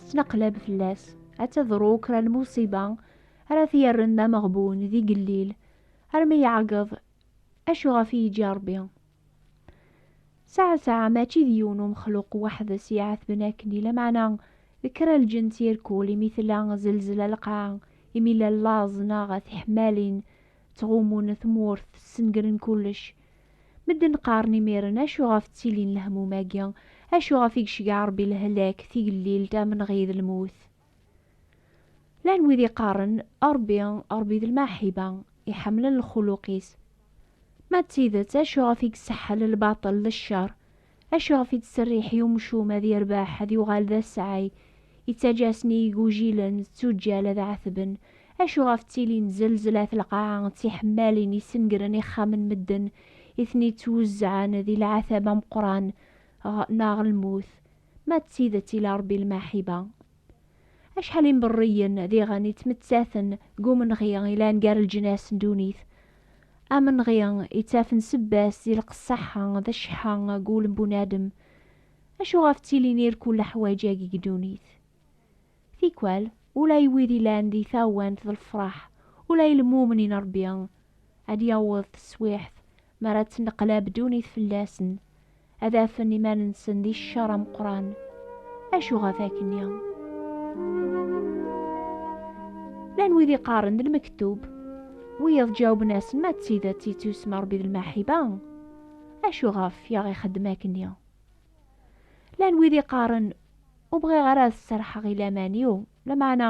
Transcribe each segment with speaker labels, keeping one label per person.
Speaker 1: tettnaqlab fell-as, ad tadru kra n lmuṣiba ara t-yerren d ameɣbun, d igellil, armi yeɛgeḍ acu ɣef i yeǧǧa Rebbi. Saɛa-saɛa mačči d yiwen umexluq weḥd-s i iɛetben akken i lameɛna d kra n lǧenn tirkul imi tella zelzla lqaɛa, imi llan laẓ neɣ tiḥemmalin ttɣummun tmurt, ssengren kullec. Medden qqaren imiren, acu ɣef ttilin lehmum-agi? Acu ɣef i gecgeɛ Rebbi lehlak, tigellilt, amenɣi d lmut? Llan wid iqqaren, Rebbi, Rebbi d lmaḥiba, iḥemmlen lxuluq-is. Ma d tidet, acu ɣef i yesseḥḥel lbaṭel d ccer? Acu iɣef i d-tserriḥ i umcum ad yerbeḥ, ad yuɣal d asɛay? Ittaǧǧa-asen i igujilen d tuǧǧal ad ɛetben. Acu iɣef ttilin zelzelat lqaɛa d tiḥemmalin yessengren ixxamen n medden, i ten-ittwuzzɛen di lɛatab ameqqran ɣ neɣ lmut? Ma d tidet ila Rebbi lmaḥiba, Acḥal imberriyen diɣen yettmettaten deg umenɣi yellan gar leǧnas n ddunit, amenɣi yettafen sebba-s di lqesseḥa d cceḥḥa deg wul n bunadem. Acuɣef ttilin irkul leḥwaǧ-agi deg ddunit? Tikwal, ula i wid yellan di tawant d lefraḥ, ula i lmumnin Ṛebbi ad d-yaweḍ teswiɛt mi ara d-tenneqlab ddunit fell-asen, ad afen iman-nsen di ccer ameqqran. Acu ɣef akkenni? Llan wid iqqaren d lmektub, wiyaḍ ǧawben-asen ma d tidet yettusem Rebbi d lmaḥiba, acu ɣef i aɣ-ixeddem akkenni? Llan wid iqqaren ur bɣiɣ ara ad serḥeɣ i laman-iw, lameɛna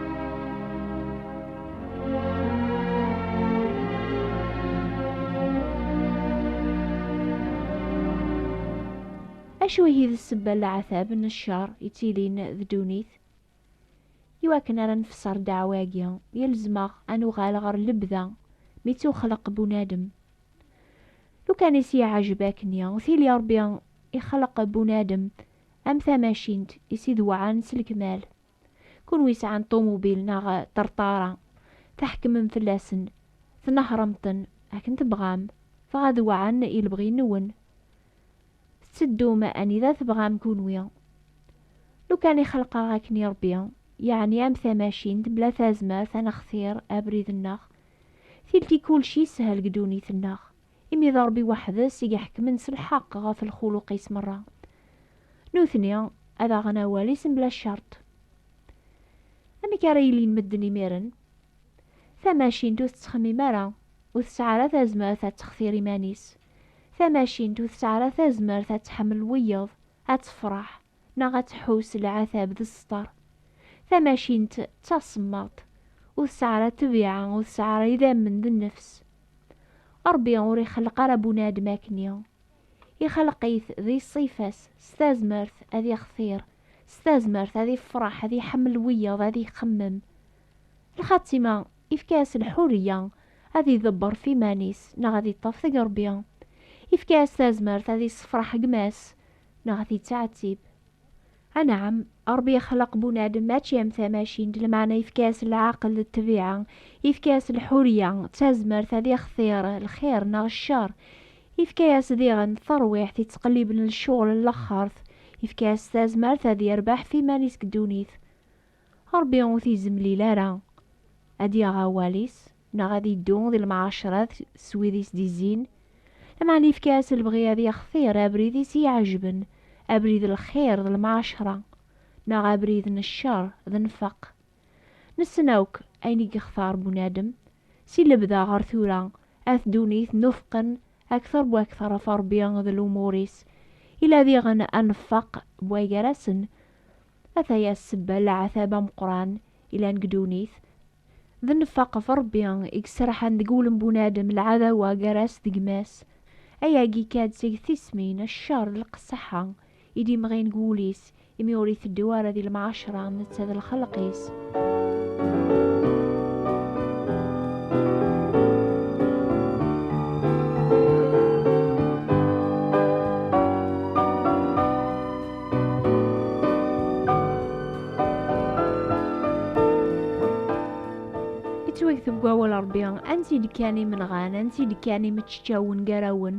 Speaker 1: Acu ihi d sebba n leɛtab n ccer yettilin d ddunit? Iwakken ara nfesser ddeɛwa-agi, yelzem-aɣ ad nuɣal ɣer lebda mi ttuxleq bunadem. Lukan i s-yeɛjeb akkenni, tili Rebbi ixleq bunadem am tamacint i s-idewɛen s lekmal. Kunwi yesɛan ṭumubil neɣ ṭerṭara, tḥekmem fell-asen, tnehṛem-ten akken tebɣam, dɣa ad weɛɛen i lebɣi-nwen. Tetteddum anida tebɣam kunwi. Lukan i xelqeɣ akken i Ṛebbi, yeɛni am tamacint bla tazmert ad nextir abrid-nneɣ, tilki kulci yessehel deg ddunit-nneɣ. imi d Ṛebbi weḥd-s i iḥekmen s lḥeqq ɣef lxuluq-is meṛṛa. Nutni ad aɣen awal-is mebla ccerṭ. Amek ara ilin medden imiren? Tamacint ur tettxemmim ara, ur tesɛi ara tazmert ad textir iman-is. Tamacint ur tesɛi ara tazmert ad tḥemmel wiyeḍ, ad tefṛeḥ. neɣ ad tḥus lɛatab d sseṭer. Tamacint d tasemmaḍt, ur tesɛi ara ṭṭbiɛa, ur tesɛi ara idammen d nnefs. Ṛebbi ur ixelleq ara bunadem akkenni. Ixelleq-it di ṣṣifa-s, s tazmert ad ixtir, s tazmert ad ifreḥ, ad iḥemmel wiyaḍ, ad ixemmem. Lxatima, ifka-as lḥurriya ad idebber ɣef iman-is neɣ ad iṭṭef deg Ṛebbi. Ifka-as tazmert ad issefreḥ gma-s neɣ ad t-ittɛettib. Anɛam, Ṛebbi yexleq bunadem mačči am tamacint, lameɛna yefka-as leɛqel d ṭṭbiɛa, yefka-as lḥurya, d tazmert ad ixtir lxir neɣ cceṛ, yefka-as diɣen taṛwiḥt yettqelliben lecɣal n laxert, yefka-as tazmert ad yerbeḥ ɣef iman-is deg ddunit. Ṛebbi ur t-izemlil ara ad yaɣ awal-is. neɣ ad iddu di lemɛacerat s wid i s-d-izzin, lameɛna yefka-as lebɣi ad yextir abrid i s-iɛejben, abrid n lxir d lemɛacra, neɣ abrid n ccer d nnfeq. Nessen akk ayen i yextar bunadem, si lebda ɣer tura, at ddunit n ufqen akter bu akter ɣef Rebbi d lumur-is, ila diɣen annfeq bwa gar-asen, ataya ssebba n leɛtab ameqqran ilan deg ddunit, D nnfaq ɣef Ṛebbi i yesraḥan deg wul n bunadem lɛadawa gar-as d gma-s. Ayagi ikka-d seg tismin, cceṛ d lqesseḥa, i d-imɣin deg wul-is, imi ur iteddu ara di lemɛacṛa am netta d lxelq-is. yettwagteb deg wawal Rebbi, ansi d-kkan imenɣan, ansi d-kkan imeččawen gar-awen,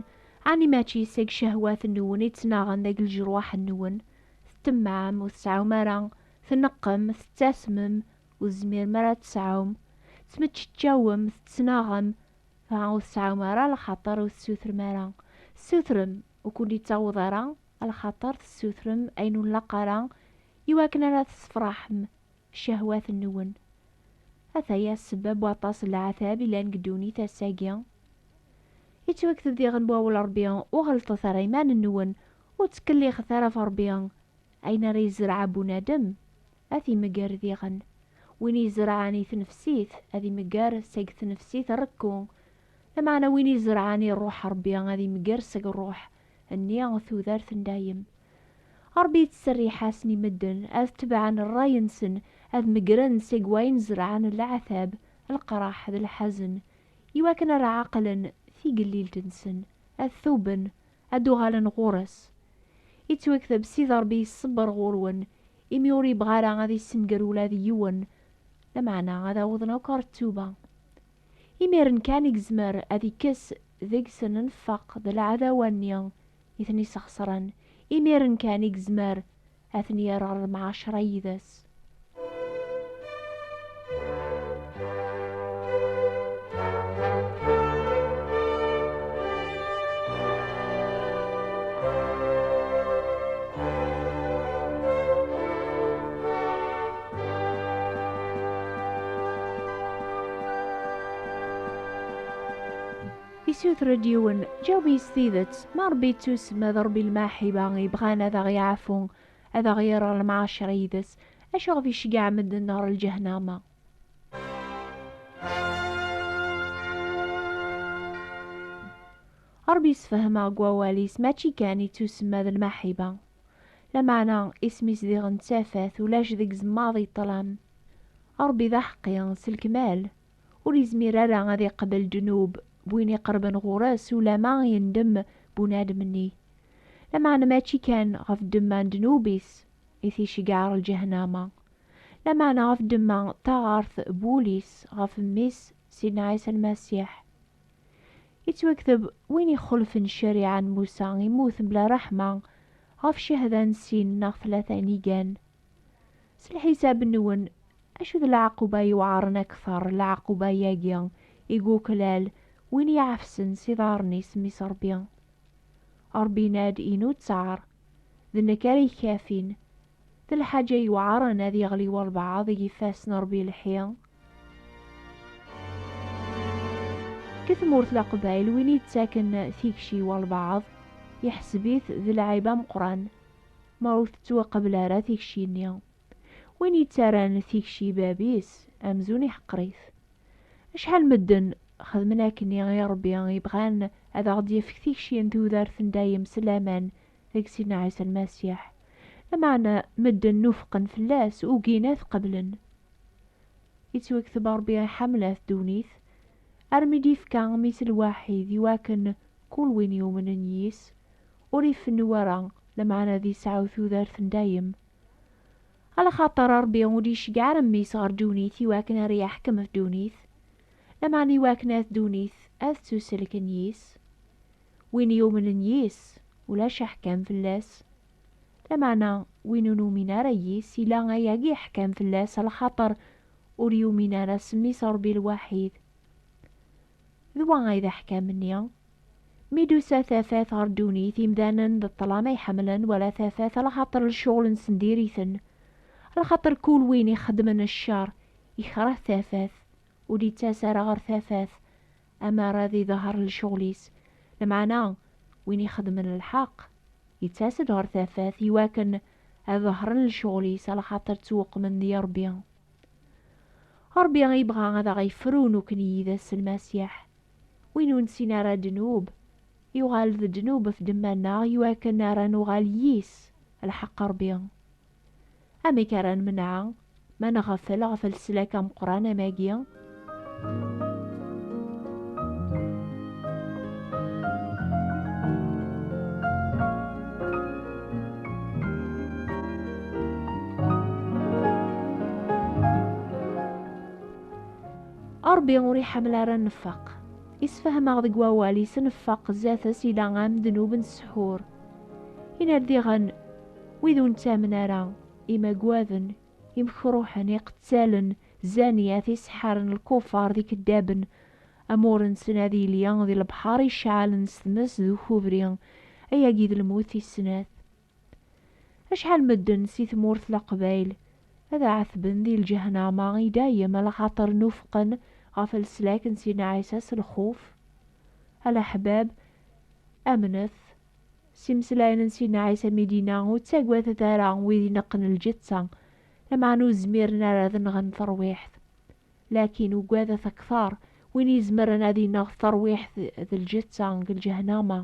Speaker 1: ɛni mačči seg cehwat-nwen i ttnaɣen deg lejruḥ-nwen? Tettemmɛem, ur tesɛum ara, tneqqem, tettasmem, ur tezmirem ara ad tesɛum, tettmeččawem, tettnaɣem, dɣa ur tesɛum ara lxaṭer ur tessutrem ara. Ssutrem, ur kent-ittaweḍ ara, alxaṭer tessutrem ayen ur nlaq ara i wakken ara tessefraḥem cehwat-nwen. Ataya ssebba n waṭas n leɛtab yellan deg ddunit ass-agi. Yettwakteb diɣen wawal Rebbi, Ur ɣellṭet ara iman-nwen, ur ttkellixet ara ɣef Rebbi, ayen ara yezreɛ bunadem, ad t-imegger diɣen. Win izerɛen i tnefsit, ad imegger seg tnefsit rekku, lameɛna win izerɛen i ṛṛuḥ n Rebbi, ad imegger seg ṛṛuḥ. nni n tudert n dayem. Ṛebbi yettserriḥ-asen i medden ad tebɛen ṛṛay-nsen, ad meggren seg wayen zerɛen leɛtab, leqraḥ d lḥazen, i wakken ad ɛeqlen tigellilt-nsen, ad tuben, ad d-uɣalen ɣur-s. Ittwekteb Sidi Ṛebbi iṣebbeṛ ɣur-wen, imi ur yebɣi ara ad issenger ula d yiwen, lameɛna ad awḍen akk ɣer ttuba. Imiren kan i yezmer ad ikkes deg-sen nnfeq d lɛadawa-nni i ten-isxesren, imiren kan i yezmer ad ten-yerr ɣer lemɛacra yid-s. Isuter-d yiwen, ǧaweb-iyi s tidet, ma Ṛebbi yettusem, d Ṛebbi n lmaḥiba, yebɣan ad aɣ-yeɛfu, ad aɣ-yerr ɣer lemɛacer yid-s, acu iɣef iceggeɛ medden ɣer lǧehnama? Ṛebbi yessefhem-aɣ deg wawal-is, mačči kan yettusem, d lmaḥiba. Lameɛna isem-is diɣen d tafat, ulac deg zemmaḍ i ṭṭlam. Ṛebbi d aḥeqqi, s lekmal, ur izmir ara ad iqbel ddnub n win iqerben ɣur-s ulamma yendem bunadem-nni. Lameɛna mačči kan ɣef ddemma n ddnub-is i t-iceggeɛ ɣer lǧahnama, lameɛna ɣef ddemma d taɣaṛt n wul-is ɣef Mmi-s Sidna Ɛisa Lmasiḥ. Yettwakteb, win ixulfen ccariɛa n Musa immut mebla ṛṛeḥma, ɣef cehda n sin neɣ tlata n yigan. S lḥisab-nwen, acu d lɛaquba yewɛaṛen akteṛ, lɛaquba-yagi i yuklal win iɛefsen s iḍaṛṛen-is Mmi-s Ṛebbi? Ṛebbi yenna-d, Inu ttaṛ, d nekk ara yekkafin, D lḥaǧa yewɛren ad yeɣli walbeɛḍ i yifas n Ṛebbi lḥi. Deg tmurt Leqbayel, win yettaken tikci i walbeɛḍ, iḥseb-it d lɛib ameqqran ma ur tettwaqbel ara tikci-nni. Win yettarran tikci i bab-is, amzun iḥqer-it. Acḥal n medden xedmen akkenni i Ṛebbi, yebɣan ad aɣ-d-yefk tikci n tudert n dayem s laman deg Sidna Ɛisa Lmasiḥ, lameɛna medden nufqen fell-as, ugin ad t-qeblen. Yettwakteb Ṛebbi iḥemmel-at ddunit, armi d-yefka Mmi-s lwaḥid i wakken kul win yumnen yis, ur ifennu ara, lameɛna ad isɛu tudert n dayem. Alaxaṭer Ṛebbi ur d-iceggeɛ ara Mmi-s ɣer ddunit i wakken ara yeḥkem ɣef ddunit, lameɛna i wakken ad ddunit ad ttuselken yis. win yumnen yis, ulac aḥkam fell-as. Lameɛna win ur numin ara yis, yella ayagi aḥkam fell-as, lxaṭer ur yumin ara s mmi-s Ṛebbi lwaḥid. D wa ay d aḥkam-nni. Mi d-tusa tafat ɣer ddunit, imdanen d ṭṭlam ay ḥemmlen, wala tafat, lxaṭer lecɣel-nsen diri-ten. Lxaṭer kul win ixeddmen cceṛ, ikreh tafat, ur d-yettas ara ɣer tafat. Amar ad iḍher lecɣel-is, lmeɛna win ixedmen lḥeqq, yettas-d ɣer tafat iwakken ad ḍehṛen lecɣel-is, alaxaṭer ttweqmen di Ṛebbi. Ṛebbi ibɣa ad aɣ-ifru nukni yid-s s Lmasiḥ. Win ur nessin ara ddnub, yuɣal d ddnub ɣef ddemma-nneɣ iwakken ara nuɣal yis lḥeqq Ṛebbi. Amek ara nemneɛ ma nɣeffel ɣef leslak ameqqran am agi? Ṛebbi ur iḥemmel ara nnfaq. Isefhem-aɣ deg wawal-is nnfaq zdat-s ila am ddnub n ssḥur. Yenna-d diɣen, Wid ur nettamen ara, imagwaden, imekruḥen, iqettalen, zzaniyat, iseḥḥaren, lkufar, d ikeddaben, amur-nsen ad yili d lebḥer iceɛɛalen s tmes d ukubri, ayagi d lmut tis snat. Acḥal medden si tmurt leqbayel ad ɛetben di lǧehnama i dayem lxaṭer nufqen ɣef leslak n Sidna Ɛisa s lxuf, a leḥbab amnet S imeslayen n Sidna Ɛisa mi d-yenna, Ur ttagadet ara wid ineqqen lǧetta, lameɛna ur zmiren ara ad nɣen tarwiḥt. Lakin ugadet akteṛ win izemren ad ineɣ tarwiḥt d lǧetta deg lǧehnama.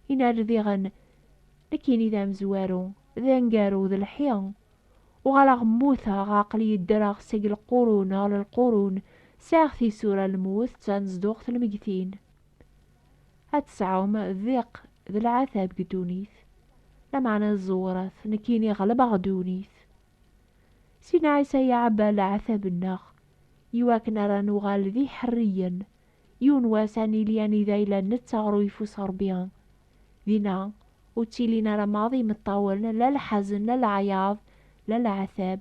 Speaker 1: Yenna-d diɣen, Nekkini d amezwaru, d aneggaru, d lḥi. Uɣaleɣ mmuteɣ, aql-iyi ddreɣ seg lqurun ɣer lqurun, sɛiɣ tisura n lmut d tanezduɣt n lmegtin. ad tesɛum diq d lɛatab deg ddunit, lameɛna ẓewret, nekkini ɣelbeɣ ddunit. Sidna Ɛisa iɛebba leɛtab-nneɣ i wakken ara nuɣal d iḥerriyen, yiwen wass ad nili anida yella netta ɣer uyeffus n Rebbi. Dinna, ur ttilin ara maḍi imeṭṭawen, la lḥazen, la leɛyaḍ, la leɛtab,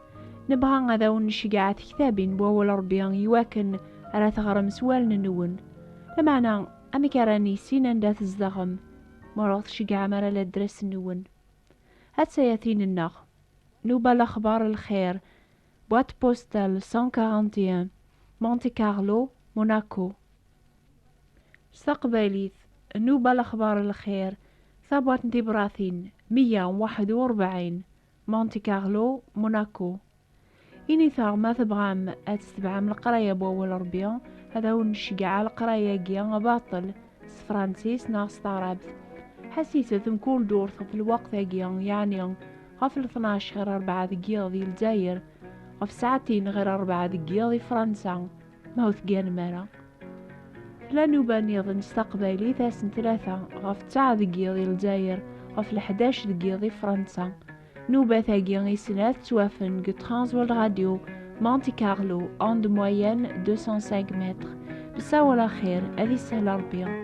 Speaker 1: Nebɣa ad awen-nceggeɛ tektabin n wawal Rebbi iwakken ara teɣrem s wallen-nwen. Lameɛna, amek ara nissin anda tzedɣem ma ur aɣ-tceggɛem ara ladres-nwen? Ad tayatin-nneɣ, Nouba Lakhbar El Khair, boîte postale 141, Monte Carlo, Monaco. S taqbaylit, Nouba Lakhbar El Khair, Tabwaṭ n Tibratin, 141, Monte Carlo, Monaco. Initeɣ ma tebɣam ad tetebɛem leqraya n wawal Rebbi, ad awen-nceggeɛ leqraya-agi baṭel s Fransis neɣ s taɛrabt. Ḥassiset mkul durt ɣef lweqt-agi, yeɛni ɣef lṭnac ɣir rebɛa deg yiḍ di Lezzayer, ɣef ssaɛtin ɣir rebɛa deg yiḍ di Fransa. Ma ur tegganem ara, tla nuba niḍen s taqbaylit ass n tlata ɣef ttaɛ deg yiḍ i Lezzayer, ɣef leḥdac deg yiḍ i Fransa. Nubat-agi i snat ttwafen deg Transworld Radio, Monte Carlo, onde moyenne 205 mètres. Nessawal axir, ad isahel Rebbi.